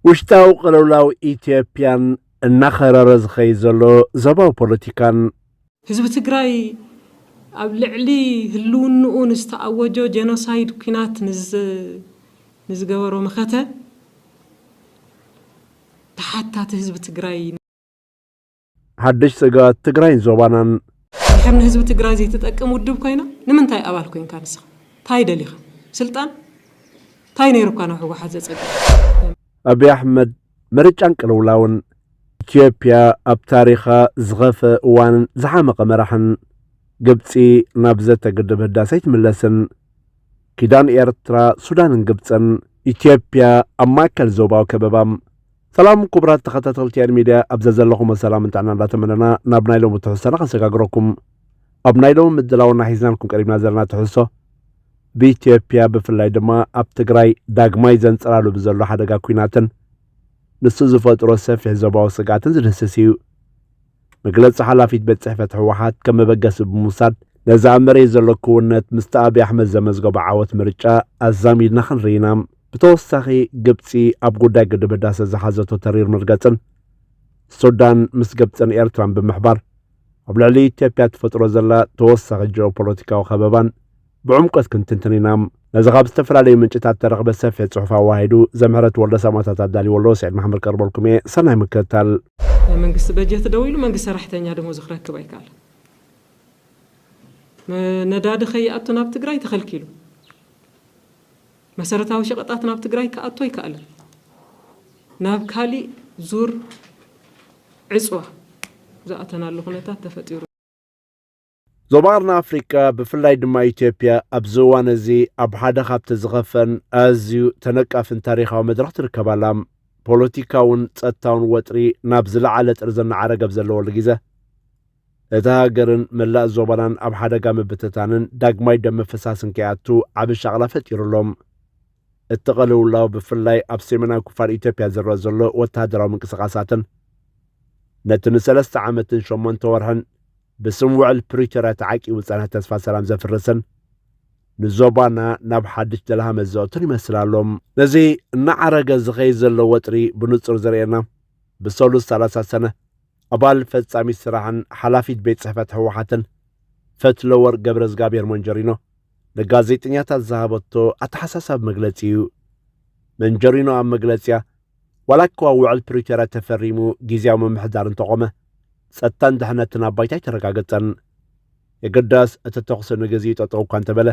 ውሽጣዊ ቅልውላው ኢትዮጵያን እናኸረረ ዝኸይድ ዘሎ ዞባዊ ፖለቲካን፣ ህዝቢ ትግራይ ኣብ ልዕሊ ህልውንኡ ንዝተኣወጆ ጀኖሳይድ ኲናት ንዝገበሮ መኸተ ተሓታቲ ህዝቢ ትግራይ፣ ሓድሽ ጸጋት ትግራይን ዞባናን ድሕር ንህዝቢ ትግራይ ዘይትጠቅም ውድብ ኮይና ንምንታይ ኣባል ኮንካ ንስኻ? ታይ ደሊኻ? ስልጣን? ታይ ነይሩካ ናብ ሕወሓት ዘጸግዕ? ኣብይ ኣሕመድ ምርጫን ቅልውላውን ኢትዮጵያ ኣብ ታሪኻ ዝኸፈ እዋንን ዝሓመቐ መራሕን ግብፂ ናብ ዘተ ግድብ ህዳሰ ኣይትምለስን ኪዳን ኤርትራ ሱዳንን ግብፅን ኢትዮጵያ ኣብ ማእከል ዞባዊ ከበባ ሰላም ኩቡራት ተኸታተልቲ ያድ ሚድያ ኣብ ዘዘለኹሞ ሰላምን ጥዕናን እንዳተመነና ናብ ናይ ሎሚ ትሕዝቶና ክንሰጋግረኩም ኣብ ናይ ሎሚ ምድላውና ሒዝናልኩም ቀሪብና ዘለና ትሕዝቶ ብኢትዮጵያ ብፍላይ ድማ ኣብ ትግራይ ዳግማይ ዘንጸላሉ ብዘሎ ሓደጋ ኩናትን ንሱ ዝፈጥሮ ሰፊሕ ዞባዊ ስግኣትን ዝድህስስ እዩ። መግለጺ ሓላፊት ቤት ጽሕፈት ህወሓት ከም መበገሲ ብምውሳድ ነዚ ኣብ መሬት ዘሎ ክውነት ምስቲ ኣብዪ ኣሕመድ ዘመዝገቦ ዓወት ምርጫ ኣዛሚድና ክንርኢ ኢና። ብተወሳኺ ግብጺ ኣብ ጉዳይ ግድብ ህዳሰ ዝሓዘቶ ተሪር መርገጽን ሱዳን ምስ ግብጽን ኤርትራን ብምሕባር ኣብ ልዕሊ ኢትዮጵያ ትፈጥሮ ዘላ ተወሳኺ ጂኦፖለቲካዊ ከበባን ብዕምቆት ክንትንትን ኢና። ነዚ ካብ ዝተፈላለዩ ምንጭታት እተረኽበ ሰፊሕ ጽሑፍ ኣወሃሂዱ ዘምህረት ወልደ ሰማእታት ኣዳልይዎ ኣሎ፣ ስዒድ መሓመድ ከቕርበልኩም እየ። ሰናይ ምክትታል። ናይ መንግስቲ በጀት ደው ኢሉ መንግስቲ ሰራሕተኛ ደሞዙ ክረክብ ኣይካል። ነዳዲ ከይኣቱ ናብ ትግራይ ተኸልኪሉ። መሰረታዊ ሸቐጣት ናብ ትግራይ ክኣቱ ኣይከኣለን። ናብ ካሊእ ዙር ዕፅዋ ዝኣተናሉ ኩነታት ተፈጢሩ። ዞባና ኣፍሪቃ ብፍላይ ድማ ኢትዮጵያ ኣብዚ እዋን እዚ ኣብ ሓደ ካብቲ ዝኸፈን ኣዝዩ ተነቃፍን ታሪኻዊ መድረኽ ትርከብ ኣላ። ፖለቲካውን ጸጥታውን ወጥሪ ናብ ዝለዓለ ጥርዚ እናዓረገ ኣብ ዘለወሉ ግዘ እታ ሃገርን መላእ ዞባናን ኣብ ሓደጋ ምብትታንን ዳግማይ ደም ምፍሳስን ከይኣቱ ዓቢ ሻቕላ ፈጢሩ ኣሎ። እቲ ቅልውላው ብፍላይ ኣብ ሰሜናዊ ክፋል ኢትዮጵያ ዝረአ ዘሎ ወተሃደራዊ ምንቅስቓሳትን ነቲ ንሰለስተ ዓመትን ሸሞንተ ወርሕን ብስም ውዕል ፕሪቶርያ ተዓቂቡ ዝጸንሐ ተስፋ ሰላም ዘፍርስን ንዞባና ናብ ሓድሽ ደልሃመ ዘእቱን ይመስል ኣሎ። ነዚ እናዓረገ ዝኸይድ ዘሎ ወጥሪ ብንጹር ዘርእየና ብሰሉስ ሰላሳ ሰነ ኣባል ፈጻሚት ስራሕን ሓላፊት ቤት ጽሕፈት ህወሓትን ፈትለወርቅ ገብረዝጋብሔር መንጀሪኖ ንጋዜጠኛታት ዝሃበቶ ኣተሓሳሳቢ መግለጺ እዩ። መንጀሪኖ ኣብ መግለጺያ ዋላኳ ውዕል ፕሪቶርያ ተፈሪሙ ግዜያዊ ምምሕዳር እንተቖመ፣ ጸጥታን ድሕነትን ኣብ ባይታ ኣይተረጋገጸን። የግዳስ እቲ ተኹሲ ንግዜኡ ጠጠው እኳ እንተበለ፣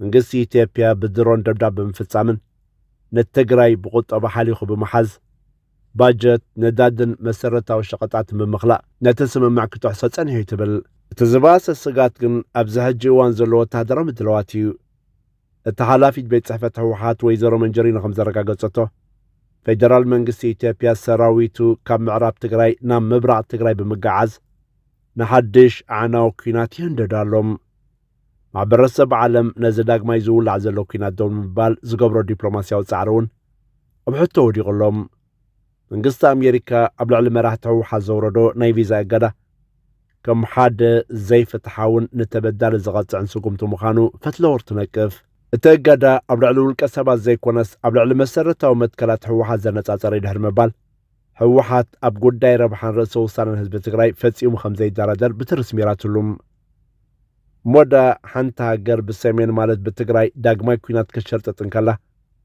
መንግስቲ ኢትዮጵያ ብድሮን ደብዳብ ብምፍጻምን ንትግራይ ብቑጠባ ሓሊኹ ብምሓዝ፣ ባጀት፣ ነዳድን መሰረታዊ ሸቐጣትን ብምኽላእ ነቲ ስምምዕ ክጥሕሶ ጸኒሑ'ዩ ትብል። እቲ ዝበኣሰ ስግኣት ግን ኣብዚ ሕጂ እዋን ዘሎ ወተሃደራዊ ምድላዋት እዩ። እታ ሓላፊት ቤት ጽሕፈት ህወሓት ወይዘሮ መንጀሪኖ ከምዘረጋገጸቶ ፌደራል መንግስቲ ኢትዮጵያ ሰራዊቱ ካብ ምዕራብ ትግራይ ናብ ምብራቕ ትግራይ ብምገዓዝ ንሓድሽ ኣዕናዊ ኩናት ይህንደድ ኣሎ። ማሕበረሰብ ዓለም ነዚ ዳግማይ ዝውላዕ ዘሎ ኩናት ደው ንምባል ዝገብሮ ዲፕሎማስያዊ ጻዕሪ እውን ኣብ ሕቶ ወዲቑ ኣሎ። መንግስቲ ኣሜሪካ ኣብ ልዕሊ መራሕቲ ህወሓት ዘውረዶ ናይ ቪዛ እገዳ ከም ሓደ ዘይፍትሓውን ንተበዳሊ ዝቐፅዕን ስጉምቲ ምዃኑ ፈትለወር ትነቅፍ። እቲ እገዳ ኣብ ልዕሊ ውልቀ ሰባት ዘይኮነስ ኣብ ልዕሊ መሰረታዊ መትከላት ህወሓት ዘነፃፀረ እዩ ድሕሪ ምባል ህወሓት ኣብ ጉዳይ ረብሓን ርእሰ ውሳነን ህዝቢ ትግራይ ፈጺሙ ከም ዘይደራደር ብትሪ ስሚራትሉ ሞዳ ሓንቲ ሃገር ብሰሜን ማለት ብትግራይ ዳግማይ ኩናት ከሸርጥጥ እንከላ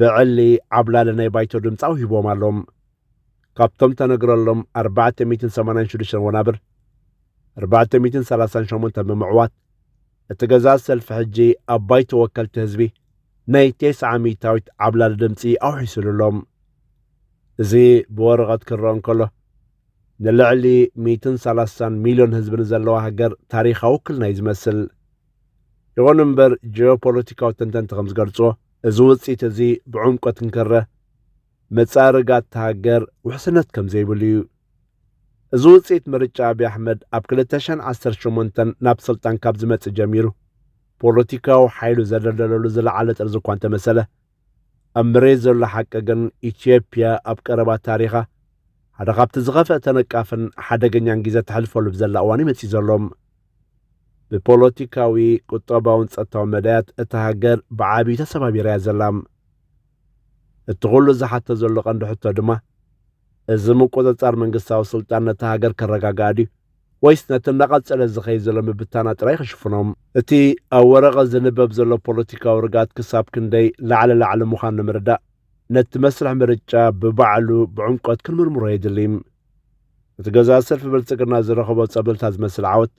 ብዕሊ ዓብላሊ ናይ ባይቶ ድምፂ ኣውሂቦም ኣሎም። ካብቶም ተነግረሎም ኣርባዕተ ሚእትን ሰማንያን ሽዱሽተን ወናብር ኣርባዕተ ሚእትን ሰላሳን ሸሞንተን ብምዕዋት እቲ ገዛእ ሰልፊ ሕጂ ኣብ ባይቶ ወከልቲ ህዝቢ ናይ ቴስዓ ሚእታዊት ዓብላሊ ድምፂ ኣውሒሱሉ ኣሎም። እዚ ብወረቐት ክረኦ እንከሎ ንልዕሊ ሚእትን ሰላሳን ሚልዮን ህዝቢ ንዘለዋ ሃገር ታሪኻዊ ውክልና እዩ ዝመስል። ይኹን እምበር ጂኦፖለቲካዊ ተንተንቲ ከም ዝገልጽዎ እዚ ውጽኢት እዚ ብዕምቆት እንክረ መጻርጋት እታ ሃገር ውሕስነት ከም ዘይብሉ እዩ። እዚ ውጽኢት ምርጫ ኣብዪ ኣሕመድ ኣብ 2018 ናብ ስልጣን ካብ ዝመጽእ ጀሚሩ ፖለቲካዊ ሓይሉ ዘደልደለሉ ዝለዓለ ጥርዚ እኳ እንተመሰለ ኣብ መሬት ዘሎ ሓቂ ግን ኢትዮጵያ ኣብ ቀረባ ታሪኻ ሓደ ካብቲ ዝኸፍአ ተነቃፍን ሓደገኛን ግዜ ተሕልፈሉ ብዘላ እዋን ይመፅእ ዘሎም ብፖለቲካዊ፣ ቁጠባውን ጸጥታውን መዳያት እታ ሃገር ብዓቢዩ ተሰባቢራ እያ ዘላ። እቲ ኩሉ ዝሓቶ ዘሎ ቀንዲ ሕቶ ድማ፣ እዚ ምቁጽጻር መንግስታዊ ስልጣን ነታ ሃገር ከረጋግኣ ድዩ ወይስ ነቲ እናቐጸለ ዝኸይድ ዘሎ ምብታና ጥራይ ክሽፍኖ? እቲ ኣብ ወረቐት ዝንበብ ዘሎ ፖለቲካዊ ርግኣት ክሳብ ክንደይ ላዕለ ላዕሊ ምዃኑ ንምርዳእ፣ ነቲ መስርሕ ምርጫ ብባዕሉ ብዕምቆት ክንምርምሮ የድሊ። እቲ ገዛ ሰልፊ ብልጽግና ዝረኸቦ ጸብለልታ ዝመስል ዓወት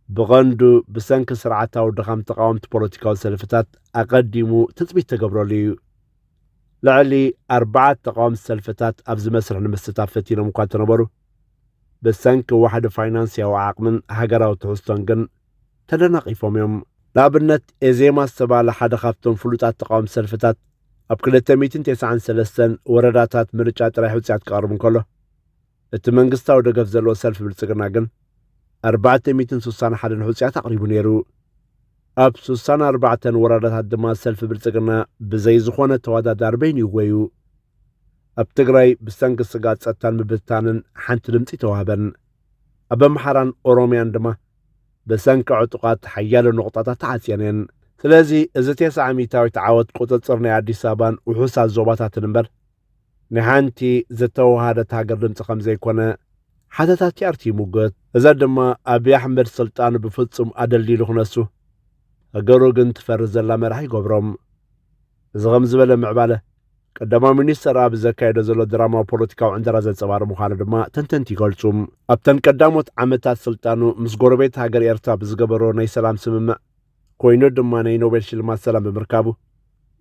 ብቐንዱ ብሰንኪ ስርዓታዊ ድኻም ተቃወምቲ ፖለቲካዊ ሰልፍታት ኣቐዲሙ ትጽቢት ተገብረሉ እዩ። ልዕሊ ኣርባዕተ ተቃወምቲ ሰልፍታት ኣብዚ መስርሕ ንምስታፍ ፈቲኖም እኳ እንተነበሩ ብሰንኪ ዋሕዲ ፋይናንስያዊ ዓቕምን ሃገራዊ ትሕዝቶን ግን ተደናቒፎም እዮም። ንኣብነት ኤዜማ ዝተባህለ ሓደ ካብቶም ፍሉጣት ተቓወምቲ ሰልፍታት ኣብ ክልተ ሚእትን ቴስዓን ሰለስተን ወረዳታት ምርጫ ጥራይ ሕጹያት ክቐርብ እንከሎ እቲ መንግስታዊ ደገፍ ዘለዎ ሰልፊ ብልጽግና ግን ኣርባዕተ ሚእትን ስሳን ሓደን ሕጹያት ኣቕሪቡ ነይሩ። ኣብ ስሳን ኣርባዕተን ወረዳታት ድማ ሰልፊ ብልጽግና ብዘይ ዝኾነ ተወዳዳሪ በይኑ ይወዩ። ኣብ ትግራይ ብሰንኪ ስጋት ጸጥታን ምብትታንን ሓንቲ ድምፂ ተዋህበን። ኣብ ኣምሓራን ኦሮምያን ድማ ብሰንኪ ዕጡቓት ሓያሎ ነቑጣታት ተዓጽየን እየን። ስለዚ እዚ ቴስዓ ሚእታዊት ዓወት ቁጽጽር ናይ ኣዲስ ኣበባን ውሑሳት ዞባታትን እምበር ናይ ሓንቲ ዝተወሃሃደት ሃገር ድምጺ ከምዘይኮነ ሓተታ ቲኣርቲ ይሙግት። እዚ ድማ ኣብይ ኣሕመድ ስልጣኑ ብፍጹም ኣደልዲሉ ክነሱ ሃገሩ ግን ትፈርስ ዘላ መራሒ ይገብሮ። እዚ ከምዚ ዝበለ ምዕባለ ቀዳማይ ሚኒስተር ኣብ ዘካየዶ ዘሎ ድራማዊ ፖለቲካዊ ዕንደራ ዘንጸባርቕ ምዃኑ ድማ ተንተንቲ ይገልጹ። ኣብተን ቀዳሞት ዓመታት ስልጣኑ ምስ ጎረቤት ሃገር ኤርትራ ብዝገበሮ ናይ ሰላም ስምምዕ ኮይኑ ድማ ናይ ኖቤል ሽልማት ሰላም ብምርካቡ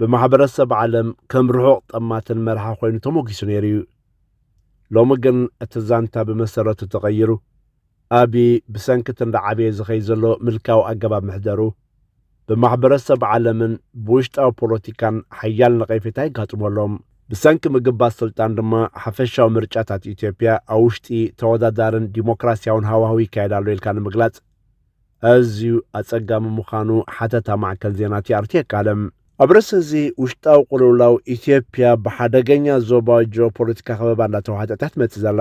ብማሕበረሰብ ዓለም ከም ርሑቕ ጠማትን መርሓ ኮይኑ ተሞጊሱ ነይሩ እዩ። ሎሚ ግን እቲ ዛንታ ብመሰረቱ ተቐይሩ ኣብይ ብሰንኪ እቲ እንዳዓበየ ዝኸይድ ዘሎ ምልካዊ ኣገባብ ምሕደሩ ብማሕበረሰብ ዓለምን ብውሽጣዊ ፖለቲካን ሓያል ነቐፌታ የጋጥሞ ኣሎ። ብሰንኪ ምግባት ስልጣን ድማ ሓፈሻዊ ምርጫታት ኢትዮጵያ ኣብ ውሽጢ ተወዳዳርን ዲሞክራሲያውን ሃዋህው ይካየድ ኣሎ ኢልካ ንምግላጽ ኣዝዩ ኣጸጋሚ ምዃኑ ሓተታ ማዕከን ዜና ቲኣርቲ የቃልም። ኣብ ርእሲ እዚ ውሽጣዊ ቅልውላው ኢትዮጵያ ብሓደገኛ ዞባዊ ጂኦፖለቲካ ከበባ እንዳተዋሕጠት እያ ትመጽእ ዘላ።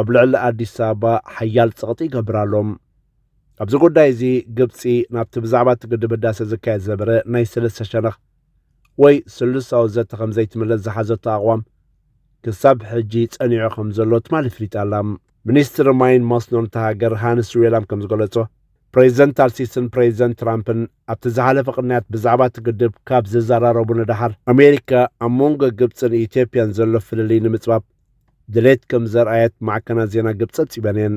ኣብ ልዕሊ ኣዲስ ኣበባ ሓያል ጸቕጢ ይገብር ኣሎ። ኣብዚ ጉዳይ እዚ ግብፂ ናብቲ ብዛዕባ እቲ ግድብ ህዳሰ ዝካየድ ዝነበረ ናይ ሰለስተ ሸነኽ ወይ ስሉሳዊ ዘተ ከም ዘይትምለስ ዝሓዘቶ ኣቕዋም ክሳብ ሕጂ ጸኒዑ ከም ዘሎ ትማሊ ፍሊጣ ኣላ። ሚኒስትሪ ማይን መስኖን እታ ሃገር ሃንስ ዌላም ከም ዝገለጾ ፕሬዚደንት ኣልሲስን ፕሬዚደንት ትራምፕን ኣብቲ ዝሓለፈ ቅንያት ብዛዕባ እቲ ግድብ ካብ ዝዘራረቡ ንደሓር ኣሜሪካ ኣብ መንጎ ግብፅን ኢትዮጵያን ዘሎ ፍልልይ ንምፅባብ ድሌት ከም ዘርኣየት ማዕከናት ዜና ግብጺ ጸብጺበን እየን።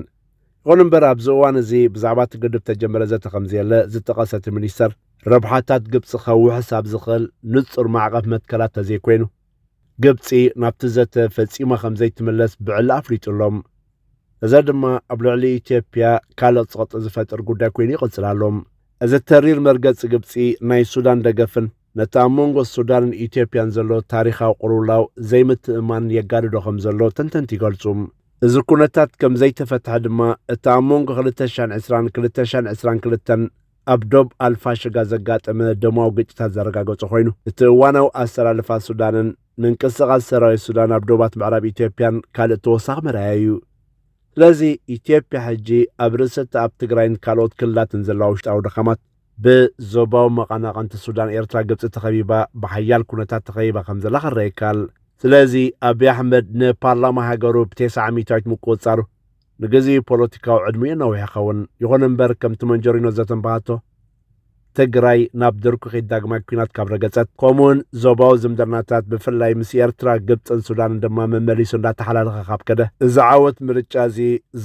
ይኹን እምበር ኣብዚ እዋን እዚ ብዛዕባ እቲ ግድብ እተጀመረ ዘተ ከም ዘየለ ዝጠቐሰ እቲ ሚኒስተር፣ ረብሓታት ግብጺ ከውሕስ ኣብ ዝኽእል ንጹር ማዕቐፍ መትከላት ተዘይኮይኑ፣ ግብጺ ናብቲ ዘተ ፈጺማ ከም ዘይትምለስ ብዕሊ ኣፍሊጡ ኣሎ። እዚ ድማ ኣብ ልዕሊ ኢትዮጵያ ካልእ ጸቕጢ ዝፈጥር ጉዳይ ኮይኑ ይቕጽል ኣሎ። እዚ ተሪር መርገጺ ግብጺ ናይ ሱዳን ደገፍን፣ ነቲ ኣብ መንጎ ሱዳንን ኢትዮጵያን ዘሎ ታሪኻዊ ቅልውላው ዘይምትእምማን የጋድዶ ከም ዘሎ ተንተንቲ ይገልጹ። እዚ ኩነታት ከም ዘይተፈትሐ ድማ እቲ ኣብ መንጎ 2020ን 2022ን ኣብ ዶብ ኣልፋሽጋ ዘጋጠመ ደማዊ ግጭታት ዘረጋገጾ ኮይኑ እቲ እዋናዊ ኣሰላልፋ ሱዳንን ምንቅስቓስ ሰራዊት ሱዳን ኣብ ዶባት ምዕራብ ኢትዮጵያን ካልእ ተወሳኺ መርኣያ እዩ። ስለዚ ኢትዮጵያ ሕጂ ኣብ ርእሰቲ ኣብ ትግራይን ካልኦት ክልላትን ዘለዋ ውሽጣዊ ድኻማት ብዞባዊ መቐናቕንቲ ሱዳን ኤርትራ ግብጺ ተኸቢባ ብሓያል ኩነታት ተኸቢባ ከም ዘላ ክረኣ ይካል። ስለዚ ኣቢይ ኣሕመድ ንፓርላማ ሃገሩ ብቴስዓ ሚእታዊት ምቁጽጻሩ ንግዜኡ ፖለቲካዊ ዕድሚኡ የናውሕ ይኸውን። ይኹን እምበር ከምቲ መንጀሪኖ ዘተንባሃቶ ትግራይ ናብ ድርኩኺት ዳግማይ ኩናት ካብ ረገጸት ከምኡውን ዞባዊ ዝምድናታት ብፍላይ ምስ ኤርትራ ግብጽን ሱዳንን ድማ መመሊሱ እንዳተሓላለኸ ካብ ከደ እዚ ዓወት ምርጫ እዚ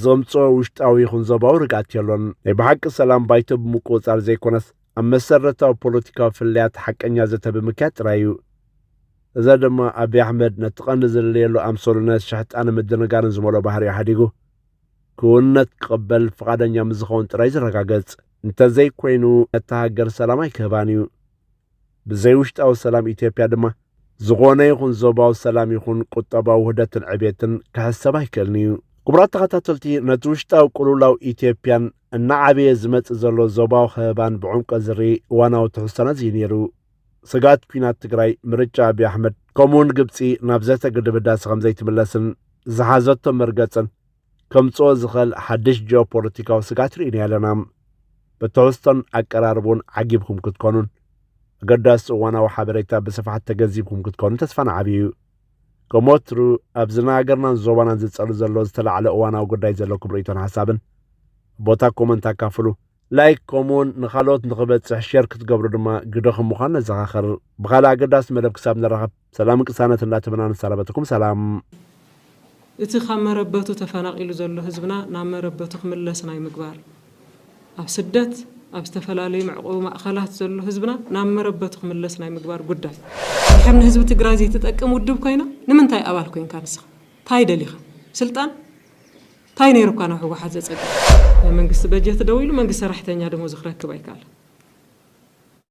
ዘምጽኦ ውሽጣዊ ይኹን ዞባዊ ርግኣት የሎን። ናይ ብሓቂ ሰላም ባይቶ ብምቁጽጻር ዘይኮነስ ኣብ መሰረታዊ ፖለቲካዊ ፍልልያት ሓቀኛ ዘተ ብምክያድ ጥራይ እዩ። እዚ ድማ ኣቢይ ኣሕመድ ነቲ ቀንዲ ዝልለየሉ ኣምሰሉነት ሸሕጣንን ምድንጋርን ዝመልኦ ባህሪኡ ሓዲጉ ክውንነት ክቕበል ፍቓደኛ ምስ ዝኸውን ጥራይ ዝረጋገጽ እንተዘይኮይኑ ነታ ሃገር ሰላም ኣይክህባን እዩ። ብዘይ ውሽጣዊ ሰላም ኢትዮጵያ ድማ ዝኾነ ይኹን ዞባዊ ሰላም ይኹን ቁጠባዊ ውህደትን ዕቤትን ክሕሰብ ኣይክእልን እዩ። ክቡራት ተኸታተልቲ ነቲ ውሽጣዊ ቅልውላው ኢትዮጵያን እናዓበየ ዝመጽእ ዘሎ ዞባዊ ከበባን ብዕምቆ ዝርኢ እዋናዊ ትሕዝቶና እዚ ነይሩ። ስግኣት ኩናት ትግራይ፣ ምርጫ ኣብዪ ኣሕመድ ከምኡውን ግብጺ ናብ ዘተ ግድብ ህዳሰ ከምዘይትምለስን ዝሓዘቶ መርገጽን ከምጽኦ ዝኸል ሓድሽ ጂኦፖለቲካዊ ስጋት ርኢና ኣለና። ብትሕዝቶን ኣቀራርቡን ዓጊብኩም ክትኮኑን ኣገዳሲ እዋናዊ ሓበሬታ ብስፍሓት ተገንዚብኩም ክትኮኑ ተስፋ ንዓብዩ እዩ። ከም ወትሩ ኣብዚ ንሃገርናን ዞባናን ዝጸሉ ዘሎ ዝተላዕለ እዋናዊ ጉዳይ ዘለኩም ርእይቶን ሓሳብን ቦታ ኮመንት ኣካፍሉ። ላይክ ከምኡውን ንካልኦት ንክበፅሕ ሼር ክትገብሩ ድማ ግደ ከም ምዃን ነዘኻኸር ብካልእ ኣገዳሲ መደብ ክሳብ ንራኸብ ሰላምን ቅሳነት እንዳተመና ንሰናበተኩም ሰላም እቲ ካብ መረበቱ ተፈናቒሉ ዘሎ ህዝብና ናብ መረበቱ ክምለስ ናይ ምግባር፣ ኣብ ስደት ኣብ ዝተፈላለዩ መዕቖቢ ማእኸላት ዘሎ ህዝብና ናብ መረበቱ ክምለስ ናይ ምግባር ጉዳይ። እንድሕር ንህዝቢ ትግራይ ዘይትጠቅም ውድብ ኮይና ንምንታይ ኣባል ኮይንካ ንስኻ? ታይ ደሊኻ? ስልጣን? ታይ ነይሩ እካ ናብ ህወሓት ዘፀግዕ? ናይ መንግስቲ በጀት ደው ኢሉ መንግስቲ ሰራሕተኛ ደሞዙ ክረክብ ኣይከኣለን።